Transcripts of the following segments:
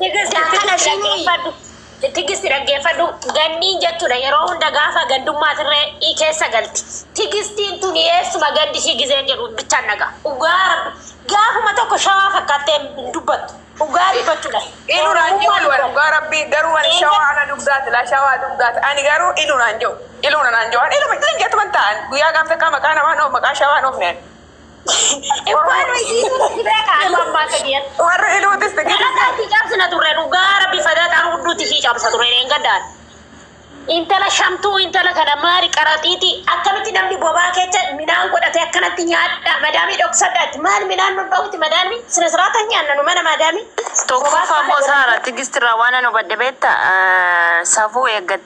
Tigist Yaa kana tigist shinii. dhaggeeffadhu. Tigist dhaggeeffadhu. Gandiin jechuudha yeroo hunda gaafa gandummaatirree i keessa galti. Tigistiin tun eessuma gandi ishii gizeen jedhu bichaan dhaga. Dhugaa rabbi gaafuma tokko shawaa fakkaattee hin dubbattu. Dhugaa dubbachuudha. Inu naan jiru Oromummaa dhugaa dubbattu. dhugaa rabbii garuu ani Eega- shawaa ana dugdaati laa shawaa dugdaati ani garuu inu naan jiru iluu naan jiru iluma ilin jettuman ta'an guyyaa gaaf takkaa maqaa namaa dhoof maqaa shawaa dhoof neen Warri iluutis Galataatti cabsina turre dhugaa rabbi fadaaxaan hudduutti ishii cabsa ture hin gaddaan. Intala shamtuu intala kana maali qaraxiiti akkamitti namni bobaa kecha midhaan godhatee akkanatti nyaadha madaamii dhoksadha itti maal midhaan nu dhowwiti madaamni sina siraata hin nyaanna nu mana madaamii. Tokkoffaa immoo Saara tigistirraa waan an hubadhe beekta safuu eeggattee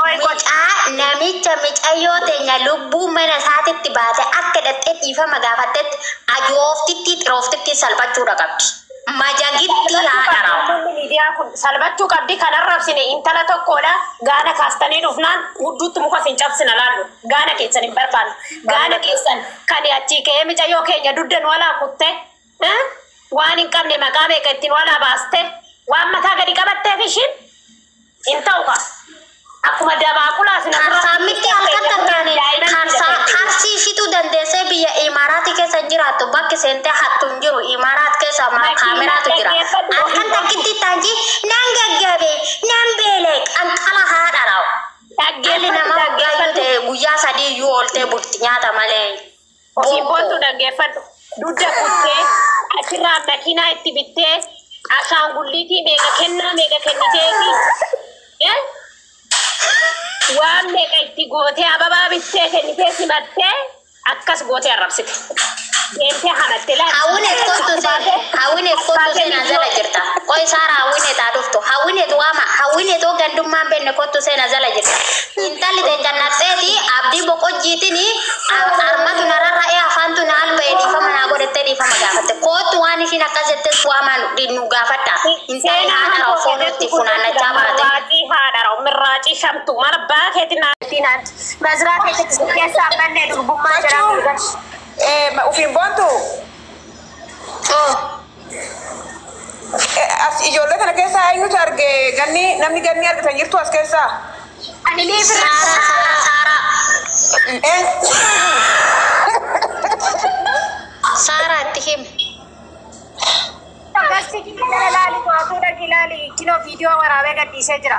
Qoy qocaa namicha micayyoo teenya lubbuu mana isaatitti baate akka dhaxxee dhiifama gaafattetti ajooftittii xirooftittiin salphachuudha qabdi. Majagittii haadha raawwa. Namoonni miidiyaa kun salphachuu qabdi kan arrabsine intala tokkoodha gaana kaastanii dhufnaan hudduutti muka isin cabsina laallu gaana keessan hin barbaannu gaana keessan kan achii ka'ee micayyoo keenya dudda nu alaa kutte waan hin qabne maqaa meeqa itti nu alaa baaste waan mataa gadi qabatteef ishiin Hin ta'u kaa. Akkuma dabaaqulaa sin asirra Kaarsaa miti halkan takkaani kaarsaa karsii ishitu dandeessee biyya Imaaraati keessa hin jiraattu bakki seentee hattu hin jiru Imaaraat keessa ma Makiinaa kaameraatu jira dhaggeeffadhu halkan ofiisaa. takkitti taanji nan gaggabe nan beele qanqala haadha raa'u dhalli Dhaggeeffadhu namaa guyyaa iyyuu dhaggeeffadhu. ta'e guyyaa sadii iyyuu ooltee bulti nyaata malee Sibbontu dhaggeeffadhu. Dudda kuttee achirraa makiinaa itti bittee ashaangulliitii meeqa kennaa meeqa kenniteefi eh, waan meeqa itti gootee ababaa bittee kennitee simattee akkas gootee arrabsite. Deemtee hamatte laal. Hawwinet kottu se Hawwinet kottu seenaan zala jirta. Qoy saara Hawwinet haa dhuftu. Hawwinet waama Hawwinet oo gandummaan benne kottu seenaan zala jirta. Intalli teencan naqxeeti abdii boqojjiitini Armatu na rarra'ee afaantu na alba'e dhiifama naa godhattee dhiifama gaafatte. Koottu waan ishiin akkas jettees waamaan nu gaafadha. Intalli haadha raa'u foon itti funaannachaa baate. Waaqii haadha raa'u mirraacii shamtu maal abbaa keetiin naa siinaan maziraa keessatti si keessaan bannee durbummaa jedhamuu. Machuu ufiin boontuu. As ijoollee kana keessaa eenyutu arge ganni namni ganni argitan jirtu as keessaa? Anilii birraa saaraa saaraa Een- saaraa itti him Agarsiifni gara laali to'atuu dhaqi laali. Kinoo viidiyoo waraabee gadhiisee jira.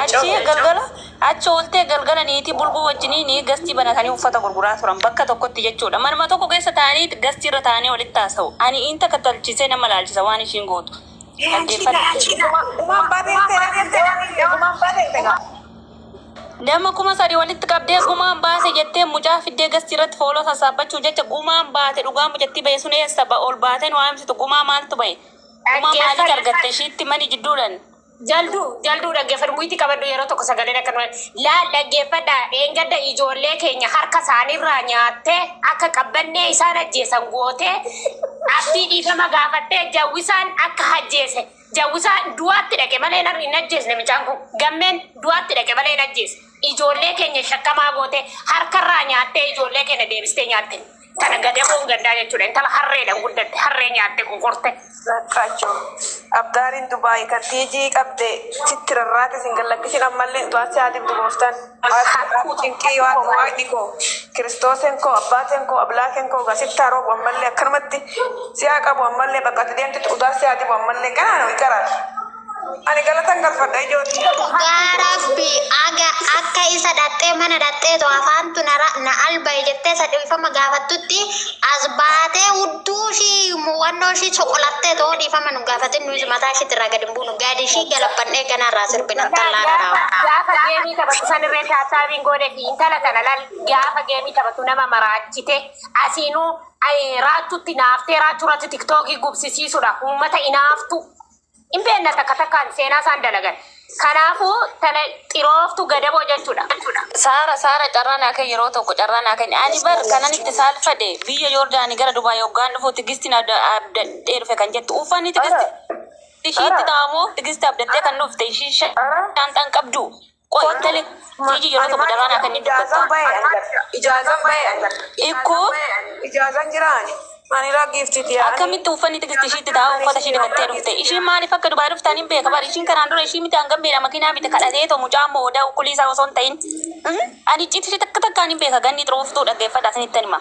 Achi galgala achi ooltee galgala niitii bulguu wajjiniin gastii banatanii uffata gurguraa turan. Bakka tokkotti jechuudha. Manuma tokko keessa taa'anii gastiirra taa'anii walitti haasa'u. Ani inta kattalchiisee nama laalchisa waan ishiin gootu. Nama kuma sadii walitti qabdee gumaan baase jettee mucaa fiddee gastiirratti fooloo sassaabbachuuf jecha gumaan baate dhugaa mucattii bahe sun eessa ol baatee nu haamsitu gumaa maaltu bahe gumaa maalitti argatte ishiitti mani jidduudhan. Jaldu jaldu dhaggeeffadhu muyitti qabadhu yeroo tokko sagaleen akka numa laal dhaggeeffadha dheengadda ijoollee keenya harka isaanirraa nyaattee akka qabbannee isaan ajjeesan gootee abdii dhiifama gaafattee jawwisaan akka ajjeese jawwisaa du'aatti dhaqe malee hin hin ajjeesne mucaan kun gammeen du'aatti dhaqe malee hin ajjeese ijoollee keenya shakkamaa gootee harkarraa nyaattee ijoollee keenya deebistee nyaatte. Tana gadamoon gandaa jechuudha. Intala harreedhaan guddatte. Harree nyaatte qoqorte. Rakkacho. Abdaariin Dubai kan tiijii qabde sitti rarraate sin gallakkisin ammallee du'aan si haa dibdu gooftan. Haadhoo cinqii waaqni waaqni koo kiristoosen koo abbaaten koo ablaaken koo gaa sitti haa roobu ammallee akkanumatti si haa qabu ammallee bakka ati deemtetti udaa si haa dibu ammallee ganaa no iqaraar. Ani galatan galfadha ijoo tiyya. Dhugaa rabbi aga akka isa dhaxxee mana dhaxxeetu afaantu na ra- na albaye jettee isa dhiifama gaafattutti as baatee hudduu ishii muwannoo ishii soqolattee too dhiifama nu gaafatin nuyi mataa ishiitti irraa gadi hin buunu gadi ishii galabbannee ganaa irraa sirbina intallaa Gaafa kanaa. gaafa geemii taphatu san irree taasaabiin goodeefi intala tana lal gaafa geemii taphatu nama maraachite asiinuu ay, raachuutti naaftee raachuu irratti tiktookii gubsisiisudha uummata inaaftu Hin beekna takka takkaan seenaa isaan dalagan. Kanaafuu tana xirooftu gadaboo jechuudha. Saara Saara carraa naa kenni yeroo tokko carraa naa kenni ani bar kanan itti saalfadhe biyya Yoordaanii gara Dubaay hoggaan dhufu Tigistiin abda- abdadhee dhufe kan jettu uffanni Tigisti ishiitti ta'amoo Tigisti abdattee kan dhufte ishii shaanxaan qabduu Qoy intali tiiji yeroo tokko daraan akka inni dubbattaa. Ijaazan baye ani bar. Ikkoo. Ijaazan jira ani. Ani raa giifti tiyaa. Akkamitti uffanni tigisti ishiitti ta'a uffata ishii dhiqattee dhufte ishiin maaliif akka dubai dhufte anin beeka bar ishiin kanaan dura ishii miti an gammeedha makiinaa bite kadhatee too mucaan moo odaa ukkulii isaa osoo hin ta'in ani icciitti ishii takka takka anin beeka ganni xurooftuu dhaggeeffadha isinittan hima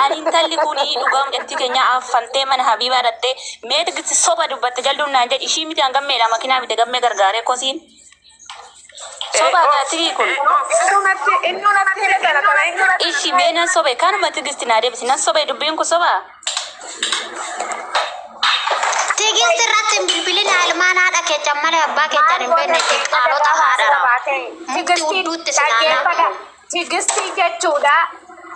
ani intalli kuni dhugaa mucattii keenyaa affantee mana habiibaa dhattee mee tigisti soba dubbatte jalduun naan jedhi ishii miti an gammeedha makiinaa bite gammee gargaaree kosiin Soba kaa tirii kun. Ishi mee nan sobe kanuma tigisti naa deebisi nan sobe dubbiin kun soba. Tigisti irratti hin bilbilin ilmaan haadha keessan malee abbaa keessan hin beekne qaalota haadha. Mukti udduutti si naannaa. Tigistii jechuudha.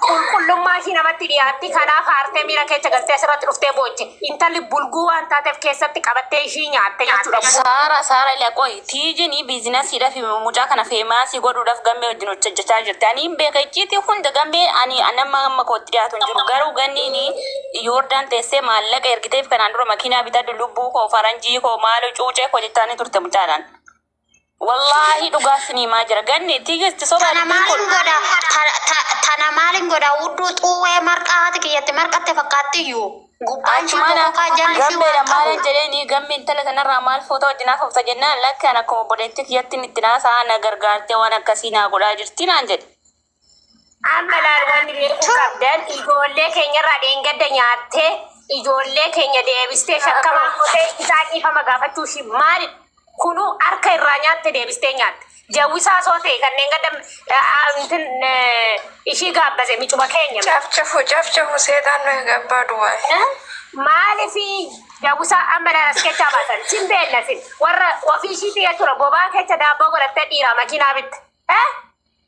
Qulqullummaa ishii namatti dhiyaatti. Kanaaf haartee miira keecha galtee asirratti dhuftee booche. Intalli bulguu waan taateef keessatti qabattee ishii nyaatte jechuudha. Saara saara ila qoyi tiijini biizinasiidhaaf mucaa kana feemaasii godhuudhaaf gammee wajjin hojjechaa jirti ani hin beeka icciitii hunda gammee ani nama amma kootti dhiyaatu hin jiru garuu ganniin yoordaan teessee maallaqa ergiteef kanaan dura makiinaa bitaa lubbuu koo faranjii koo maaloo cuucee koo jettaanii turte mucaadhaan Wallaahi dhugaa isin himaa jira. Ganni tigisti sobaa Tana dubbiin kun. maalin godha? Ta- ta- Tana maalin godha? Hudduu xuwwee marqaa haati kiyyatti marqatte fakkaatti iyyuu. Gubbaan ishii Achumaana bokokaa jalli ishii waan gammeedha maalan qabu. jedheeni gamme intala kanarraa maal footoo wajjin haafofta jennaan lakki an akkuma obboleettii kiyyatti itti naasaa na gargaartee waan akkasii naa godhaa jirti naan jedhe. Amma laal wanti beekuu Choo. qabdan ijoollee keenya irraa dheengadda nyaattee ijoollee keenya deebistee shakkamaa gootee isaa dhiifama gaafachuu ishii maali? Kunuu harka irraa nyaatte deebistee nyaatte. Jawwisaa soo ta'e kan dheengadda aantin ishii gaabbase micuma keenya. Cafcafu cafcafu seexaan nu eega abbaa duwwaa. Maaliif jawwisaa amma laal as kechaa baatan? Sin beekna sin warra ofii ishiitii jechuudha bobaa kecha daabboo godhattee dhiiraa makiinaa bitte. Eh?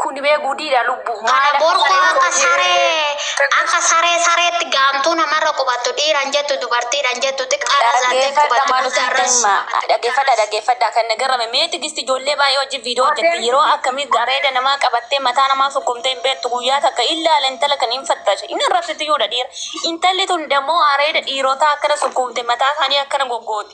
Kuni bee gudiidha lubbu. Kana borku akka saree akka saree sareetti gaamtuu namarra qubattu dhiiran jettu dubartiidhan jettu xiqqaarra zaattee qubattu guddaarras. Dhaggeeffadha dhaggeeffadha kan na garame mee tigisti ijoollee baay'ee wajjin viidiyoo hojjette yeroo akkamii gareeda namaa qabattee mataa namaa sukkumtee hin beektu guyyaa takka illaala intala kan hin fattashe hin arrabsitiyuudha dhiira intalli tun dammoo areeda dhiirotaa akkana sukkuumte mataa isaanii akkana goggooti.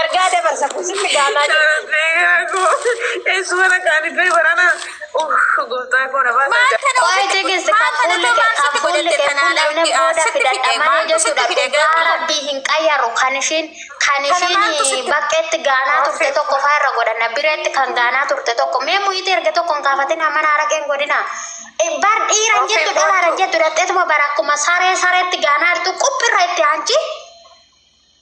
Ergaa dabarsa kun sitti gaamaa jira. Waa'ee jigirsi kan fuulli kee kan fuulli kee fuul'amne booda fidadha malee jechuudha. Dhugaa rabbii hin qayyaru kan ishiin kan ishiin baqqeetti gaanaa turte tokko faa irra godhanna bireetti kan gaanaa turte tokko mee mu'iitii erga tokko hin kaafatin amma naara qeen godhina. Bar dhiiran jettu dhalaaran jettu dhaqxeetuma bara akkuma saree sareetti gaanaa jirtu quphirra itti aanci.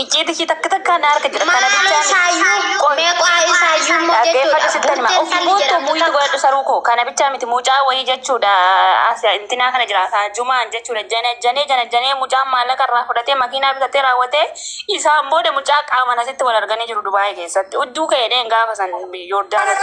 Icciiti ishii takka takkaan na harka jira. Kana Maaloo bichaa miti. isaayyuu Qoy. meeqaa isaayyuu immoo Dhaggeeffadhu jechuudha. sittan hima. Of Bukkeen dhalli buuttu jedhamtu muulli takka. godhadhu saruu koo. Kana bichaa miti mucaa wayii jechuudha. As intinaa kana jira. Kaa jumaan jechuudha. Janajjanee janajjanee mucaan maallaqa irraa fudhatee makiinaa bitatee raawwatee isaan booda mucaa qaaman asitti wal arganii jiru Dubaayii keessatti. Udduu ka'eedheen gaafa san Yoordaanosi.